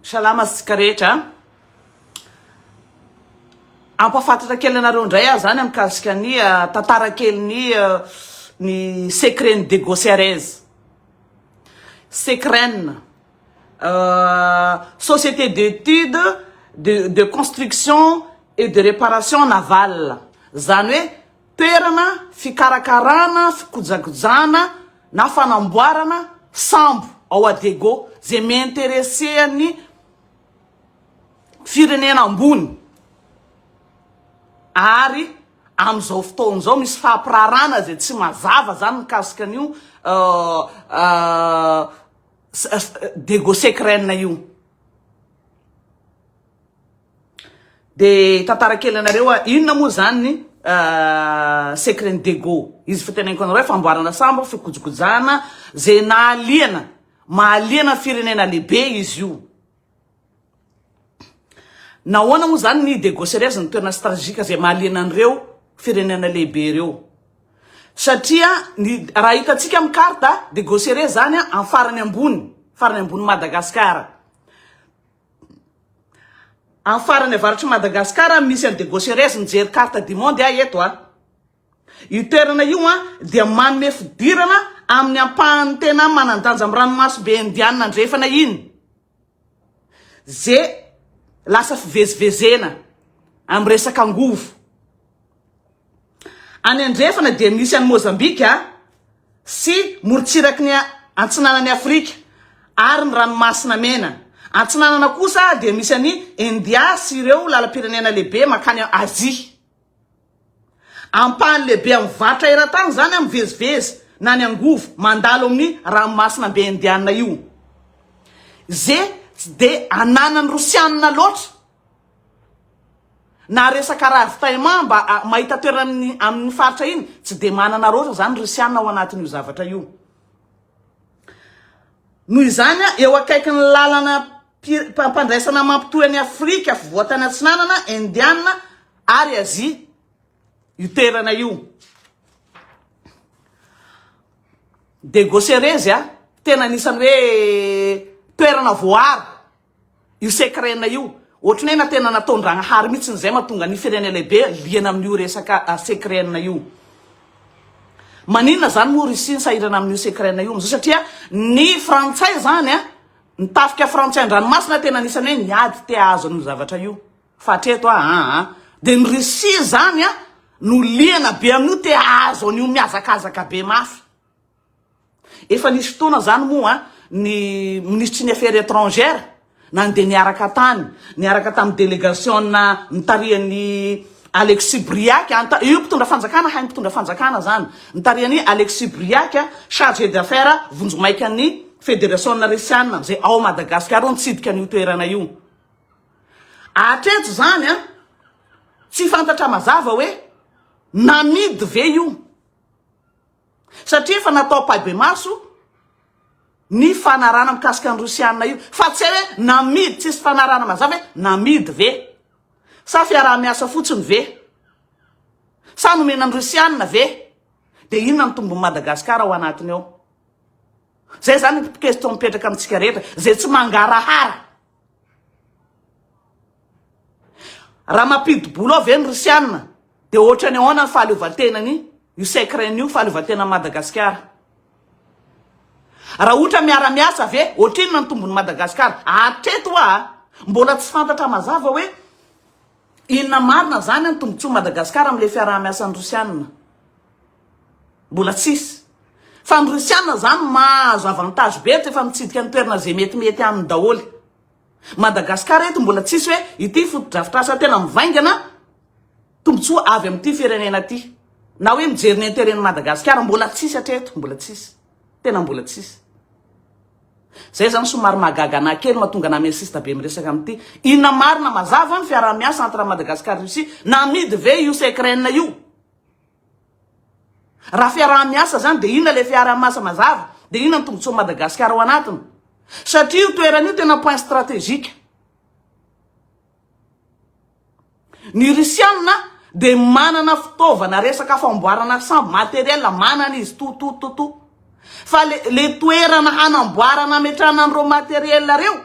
Salama antsika rehetra a! Hampahafantatra kely anareo indray aho izany mikasika ny tantara kelin'ny ny secret-n'i Diego Ceres. Secret-na société d'études de de construction et de réparation navale, izany hoe. toerana fikarakarana, fikojakojana na fanamboarana sambo ao Adego izay mi-interesser an'ny firenena ambony ary amin'izao fotoana izao misy fampirarana izay tsy mazava izany mikasika an'io Dego Secrène io. De tantara kely anareo a, inona moa zany ny secret ny dego, izy fa teneniko anareo famboarana sambo, fikojikojana, ze nahaliana, mahaliana firenena lehibe izy io, nahoana moa zany ny dego sereze no toerana strategika ze mahaliana an'ireo firenena lehibe reo, satria ny raha hitantsika amin'ny carte dego sereze zany amin'ny farany ambony, farany ambony Madagasikara. Am farany avaratry Madagascar am misy an de Gaucherez mijery carte du monde aho eto a. Io toerana io an dia manome fidirana aminy ampahany tena manandanja am ranomaso be indianina andrefana iny. Ze lasa fivezivezena am resaka angovo. Any andrefana dia misy an'i Mozambika sy morontsiraky ny Antsinanan'i Afrika ary ny Ranomasina Mena. Antsinanana kosa dia misy an'i India sy ireo lalam-pirenena lehibe mankany Azia. Ampahany lehibe amin'ny varotra eran-tany izany a, mivezivezy na ny angovo mandalo amin'ny Ranomasina Be Indiana io. Ze tsy dia ananan'ny Rosianina loatra. Na resaka ravitaillement mba mahita toerana amin'ny faritra iny tsy dia manana roatra izany Risiana ao anatin'io zavatra io. Noho izany, eo akaikin'ny lalana mpandraisana mampitohy an'i Afrika Afovoantany Atsinanana, Indiana ary Azia io toerana io. Degosereze, tena anisan'ny hoe toerana voaaro. Io secret-na io, ohatran'ny hoe na tena nataon-dragnahary mihitsy izay mahatonga ny firenena lehibe liana amin'io resaka secret-na io. Maninona izany moa Russie nisahirana amin'io secret-na io amin'izao? Satria ny frantsay izany an, ny tafika frantsay an-dranomasina tena anisan'ny hoe niady te hahazo an'io zavatra io. Fa hatreto an, an, an. Dia ny Russie izany an, no liana be amin'io te hahazo an'io mihazakazaka be mafy. Efa nisy fotoana izany moa ny minisitry ny Affaires étrangères nandeha niaraka tany, niaraka tamin'ny delegasionina nitarihan'i Alexis Briac, io mpitondra fanjakana hain'ny mpitondra fanjakana izany, nitarihan'i Alexis Briac, chargé d'affaires vonjimaikan'ny Federasionina Risiana amin'izay ao Madagasikara io nitsidika an'io toerana io. Hatreto izany tsy fantatra mazava hoe namidy ve io? satria efa natao ampahibemaso ny fanarahana mikasika ny Rosiana io fa tsy hay hoe namidy, tsisy fanarahana mazava hoe namidy ve? Sa fiaraha-miasa fotsiny ve? Sa nomena ny Rosiana ve? Dia inona ny tombon'i Madagasikara ao anatiny ao? Izay izany ny question mipetraka amintsika rehetra izay tsy mangarahara. Raha mampidi-bola ao ve ny Rosiana dia ohatrany ahoana ny fahaleovantenany io Secrène io, fahaleovantenan'i Madagasikara? Raha ohatra miara-miasa ve, ohatrinona ny tombon'i Madagasikara? Hatreto hoa mbola tsy fantatra mazava hoe inona marina izany ny tombotsoan'i Madagasikara amin'ilay fiaraha-miasan'ny Rosiana. Mbola tsisy. Fa ny rusiana zany mahazo avantage be rehefa mitsidika ny toerana ze mety mety aminy daholy. Madagascar eto mbola tsisy hoe ity fotodrafitrasa tena mivaingana tombotsoa avy amity firenena ty. Na hoe mijery ny interet ny Madagascar mbola tsisy hatreto mbola tsisy. Tena mbola tsisy. Zay zany somary mahagaga anah kely mahatonga anah mi-insiste be miresaka amity. Inona marina mazava ny fiaraha-miasa entre Madagascar Russie? Namidy ve io secrenne io? Raha fiaraha-miasa izany dia inona ilay fiaraha-miasa mazava? Dia inona ny tombontsoan'i Madagasikara ao anatiny? Satria io toerana io tena point stratégique. Ny Risianina dia manana fitaovana resaka famboarana sambo, matériel manana izy to to to to. Fa le le toerana hanamboarana hametrahana an'ireo matériel ireo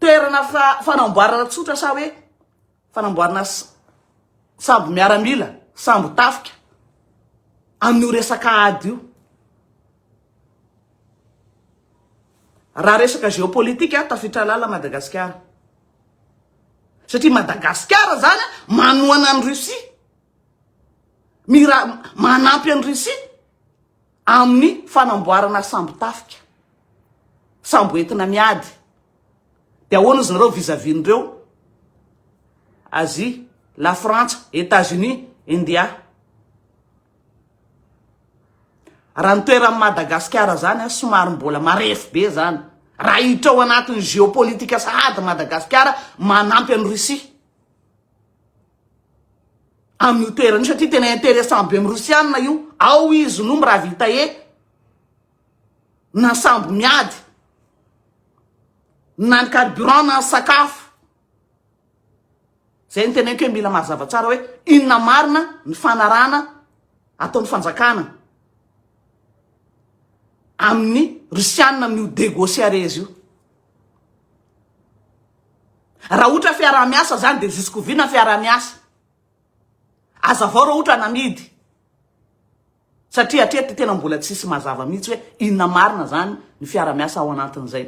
toerana fanamboarana tsotra sa hoe fanamboarana sambo miaramila, sambo tafika amin'io resaka ady io. Raha resaka géopolitique tafiditra lala Madagasikara. Satria Madagasikara zany manohana an'i Russie. Mira manampy an'i Russie. amin'ny fanamboarana sambo tafika, sambo entina miady, dia ahoana ozy nareo vis à vis n'ireo Asie, la Frantsa, Etats Unis, India. Raha ny toeran'i Madagasikara zany a, somary mbola marefo be zany. Raha hiditra ao anatin'ny géopolitique sahady Madagasikara manampy an'i Russie. amin'io toerana io satria tena intéressant be amin'ny Rosianina io, ao izy no miravitae na ny sambo miady na ny carburant na ny sakafo. Zay ny teneniko hoe mila mazava tsara hoe inona marina ny fanarahana ataon'ny fanjakana amin'ny Rosianina amin'io degociares io. Raha ohatra fiaraha-miasa zany de juskoviana fiaraha-miasa? Azavao raha ohatra namidy satria hatreto tena mbola tsisy mazava mihitsy hoe inona marina zany ny fiaraha-miasa ao anatin'izay?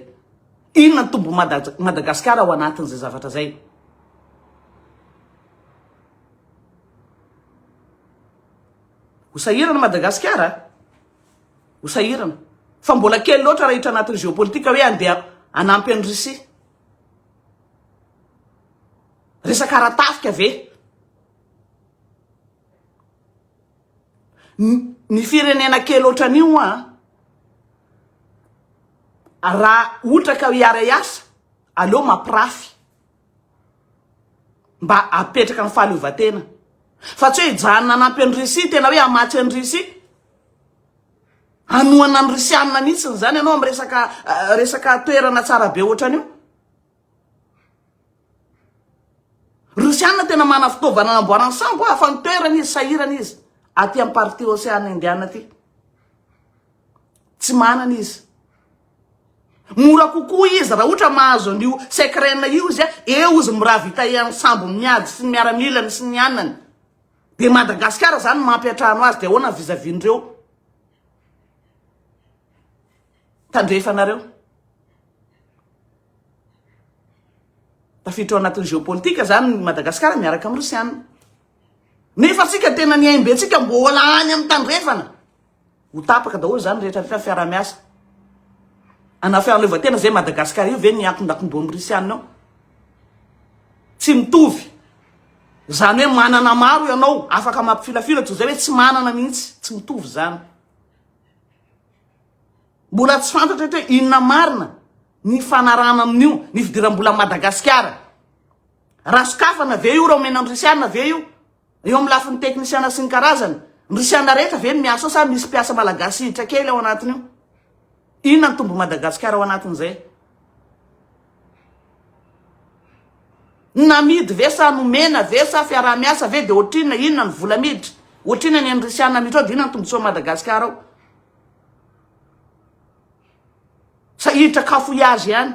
Inona ny tombony Madagasikara ao anatin'izay zavatra zay? Ho sahirana Madagasikara? Ho sahirana. Fa mbola kely loatra raha hiditra anatin'ny géopolitique hoe andeha hanampy an'i Russie. Resaka ara-tafika ve? Ny firenena kely ohatran'io hoa, raha ohatra ka hiara-hiasa, aleo mampirafy mba apetraka ny fahaleovantena fa tsy hoe hijanona hanampy an'i Russie tena hoe hamatsy an'i Russie hanohana ny Russiana mihitsy ny zany ianao amin'ny resaka eh, resaka toerana tsara be ohatran'io Russiana tena mana fitaovana anamboarany sambo hafa ny toerana izy sahirana izy aty amin'ny partie Océan Indiana aty tsy manana izy Mora kokoa izy raha ohatra mahazo an'io Secrena io izy a, eo izy mirahavita ian'ny sambony miady sy ny miaramilany sy ny anany. Dia Madagasikara izany mampiantrano azy, dia ahoana vis à vis an'ireo tandrefanareo? Tafiditra ao anatin'ny géopolitique izany i Madagasikara miaraka amin'ny Rosiana. Nefa antsika tena ny aim-be antsika mbola any amin'ny tandrefana. Ho tapaka daholo izany rehetra rehetra fiarahamiasa ana fialovantenana izay Madagascar io ve ny antondakondoham risianina ao? Tsy mitovy. Izany hoe manana maro ianao afaka mampifilafila toy izay hoe tsy manana mihitsy, tsy mitovy izany. Mbola tsy fantatra eto hoe inona marina ny fanarahana amin'io ny fidiram-bola Madagasikara. Raha sokafana ve io raha omena ny risianina ve io? Eo amin'ny lafiny teknisiana sy ny karazany, Rusiana rehetra ve no miasa ao sa misy mpiasa malagasy hiditra kely ao anatin'io? Inona no tombon'i Madagasikara ao anatin'izay? Namidy ve sa nomena ve sa fiaraha-miasa ve dia ohatrinona? Inona ny vola miditra? Ohatrinona ny an'ny Rusiana miditra ao dia inona ny tombontsoan'i Madagasikara ao? Sa hiditra cafouillage ihany?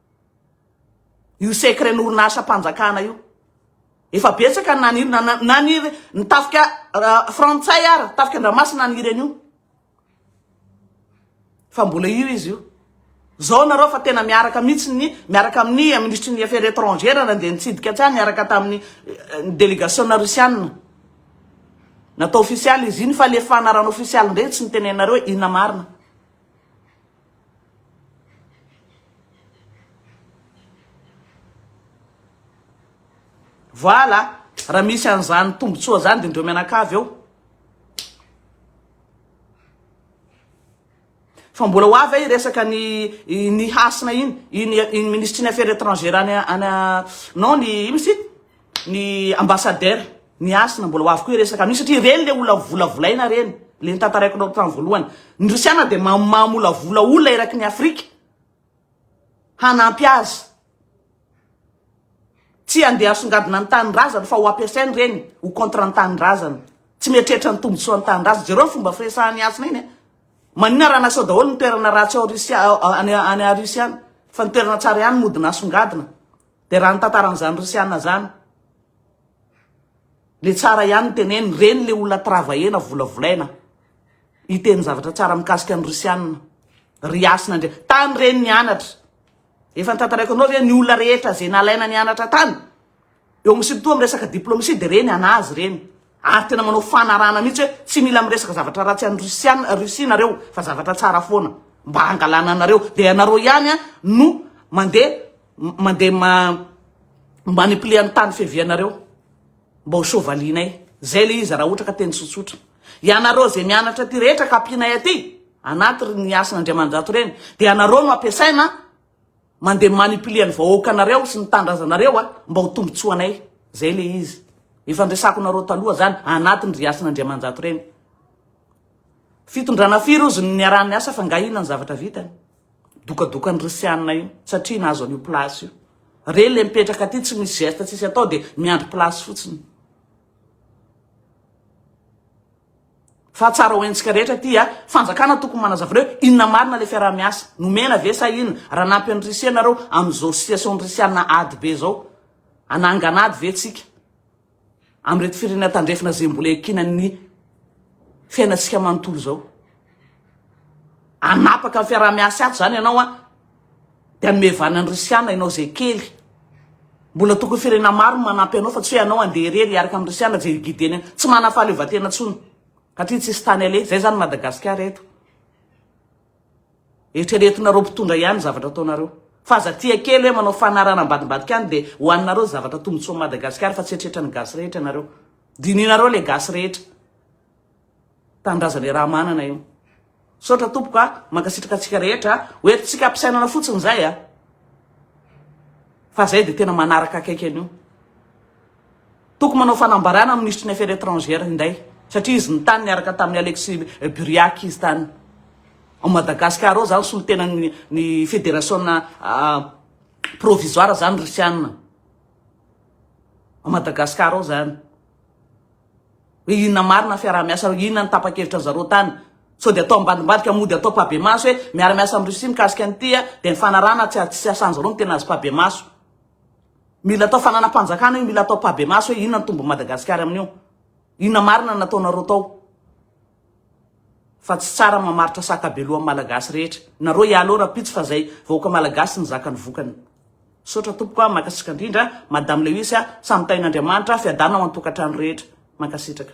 Io secret-ny orinasam-panjakana io. Efa betsaka ny naniry, na- na- naniry ny tafika ra- frantsay ary, tafika Andramasina naniry an'io. Fa mbola io izy io. Zao nareo fa tena miaraka mihitsy ny, miaraka amin'ny minisitry ny affaires étrangères nandeha nitsidika tsy any niaraka tamin'ny eh, ny délégation-na Russiana. Natao ofisialy izy iny, fa le fanarahana ofisialy indray tsy nitenenareo hoe inona marina. Voilà, raha misy an'izany tombontsoa izany dia indreo mianakavy ao. Fa mbola ho avy resaka ny ny hasina iny, iny iny minisitry ny affaires étrangères any any non ny ino izy ity? ny ambassadeur ny hasina mbola ho avy koa iresaka amin'io satria ireny le olona volavolaina ireny le nitantaraiko anao tamin'ny voalohany ny rosiana dia mamolavola olona eraky ny afrika hanampy azy tsy andeha asongadina ny tanindrazana fa ho ampiasainy ireny ho contre ny tanindrazana tsy mieritreritra ny tombontsoa ny tanindrazana jereo ny fomba firesahan'ny hasina iny eh. manina raha nasao daholo ny toerana ratsy ao rusia any rusia any fa ny toerana tsara ihany modina asongadina Dia raha ny tantaran'izany Risiana izany dia tsara ihany ny tenenina, ireny ilay olona travahena, volavolaina hiteny zavatra tsara mikasika ny Risiana, ry Hasina Andria. Tany ireny nianatra. Efa nitantaraiko anao ve ny olona rehetra izay nalaina nianatra tany? Eo amin'ny surtout amin'ny resaka diplomatie dia ireny anazy ireny. Ary tena manao fanarahana mihitsy hoe tsy mila miresaka zavatra ratsy an'i Rusiana, Russie nareo fa zavatra tsara foana mba hangalana anareo. Dia ianareo ihany no mandeha Mandeha ma manipuler ny tany fiavianareo mba ho sovalinay. Zay le izy raha ohatra ka teny tsotsotra. Ianareo zay mianatra aty rehetra ka ampianay aty anaty ry ny asan' Andriamanirato reny de ianareo no ampiasaina mandeha manipuler ny vahoakanareo sy ny tandrazanareo mba ho tombotsoanay. Zay le izy. Efa niresako nareo taloha zany anatin' ry asan' Andriamanirato reny. Fitondrana firy ozy no niaraha niasa fa nga ina ny zavatra vitany. Dokadokan'ny Rosiana io satria nahazo an'io place io. Re le mipetraka aty tsy misy geste tsisy atao de miandry place fotsiny. Fa tsara ho haintsika rehetra aty a, fanjakana tokony manazava anareo inona marina le fiaraha-miasa nomena ve sa inona? Raha nampy an'i Russie nareo amin'izao situation-n'i Russiana ady be zao, hanangana ady ve tsika? amin'ireto firenena tandrefana izay mbola iankinan'ny fiainantsika manontolo izao. Anapaka ny fiaraha-miasa azy izany ianao a, dia hanome vana ny Risiana ianao izay kely. Mbola tokony firenena maro manampy anao fa tsy hoe ianao handeha irery hiaraka amin'ny Risiana izay gideny. Tsy manam-pahaleovantena intsony, satria tsisy tany aleha. Izay izany Madagasikara eto. Eritreretinareo mpitondra ihany ny zavatra ataonareo. Fa aza tia kely hoe manao fanarahana ambadimbadika any dia ho anareo zavatra tombotsoan'i Madagasikara fa tsy eritreretran'ny gasy rehetra nareo. Dinihinareo le gasy rehetra. Tanindrazan'i Ramanana io. Misaotra tompoko a, mankasitraka antsika rehetra a. Ho entintsika ampisainana fotsiny zay a. Fa zay dia tena manaraka akaiky an'io. Toko manao fanambarana ny minisitry ny Affaires étrangères indray satria izy nitany niaraka tamin'i Alexis Buriac izy tany. Ao Madagasikara ao izany solontenan'ny ny federasiona provisoire izany Risianina. Ao Madagasikara ao izany. Hoe inona marina fiaraha-miasa, inona ny tapa-kevitra zareo tany. Sao dia atao ambadimbadika mody atao pabemaso hoe miara-miasa amin'ny Russie mikasika an'ity dia ny fanarahana tsy asan'izareo no tena azo pabemaso. Mila atao fananam-panjakana io, mila atao pabemaso hoe inona ny tombon'i Madagasikara amin'io. Inona marina nataonareo tao. Fa tsy tsara mamaritra saka be lohan'ny Malagasy rehetra. Nareo ialoha rapitsy fa zay vahoaka Malagasy nizaka ny vokany. Misaotra tompoko a, mankasitraka indrindra, Madame Lewis a, samy tahin'Andriamanitra, fiadanao an-tokantrano rehetra. Mankasitraka.